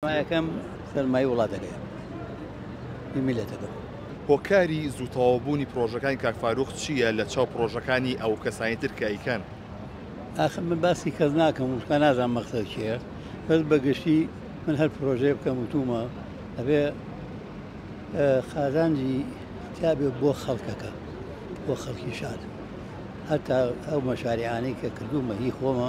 سەرمایەکەم سەرمای وڵاتەکەیە هی میلەتەکەم. هۆکاری زوو تەواو بوونی پڕۆژەکانی کاک فاروق چییە لە چاو پڕۆژەکانی ئەو کەسانی تر کە ئەیکەن؟ ئاخر من باسی کەس ناکەم و تکا نازانم مەقسەد چییە بەس بە گشتی من هەر پڕۆژەیە بکەم وتوومە ئەبێ قازانجی تیابێ بۆ خەڵکەکە بۆ خەڵکی شار هەتا ئەو مەشاریعانەی کە کردوومە هی خۆمە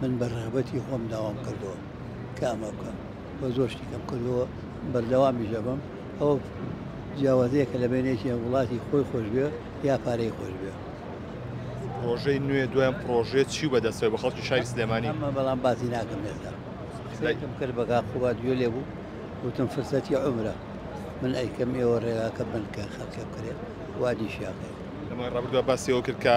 من بە رغبەتی خۆم داوام کردووە کە ئەمە بکەم و زۆر شتیکەم کردووە بەردەوامیش دەبم ئەوە جیاوازەیەکە لە بینێکی وڵاتی خۆی خۆشبێ یا پارەی خۆشبێ پرۆژەی نوێ دوایان پرۆژێت چی و بەدەستەوە بە خەڵکی شاری سلێمانی ئەمە بەڵام باسی ناکەم ێستا قسەیکم کرد بەگا خوبات گوێ لێ بوو وتم فرسەتی عمرە من ئەیکەم ئێوە ڕێگاکە بنکە خەڵکە بکرێت وادیشیاکە لەمای ڕابردووە باسیەوە کرد کە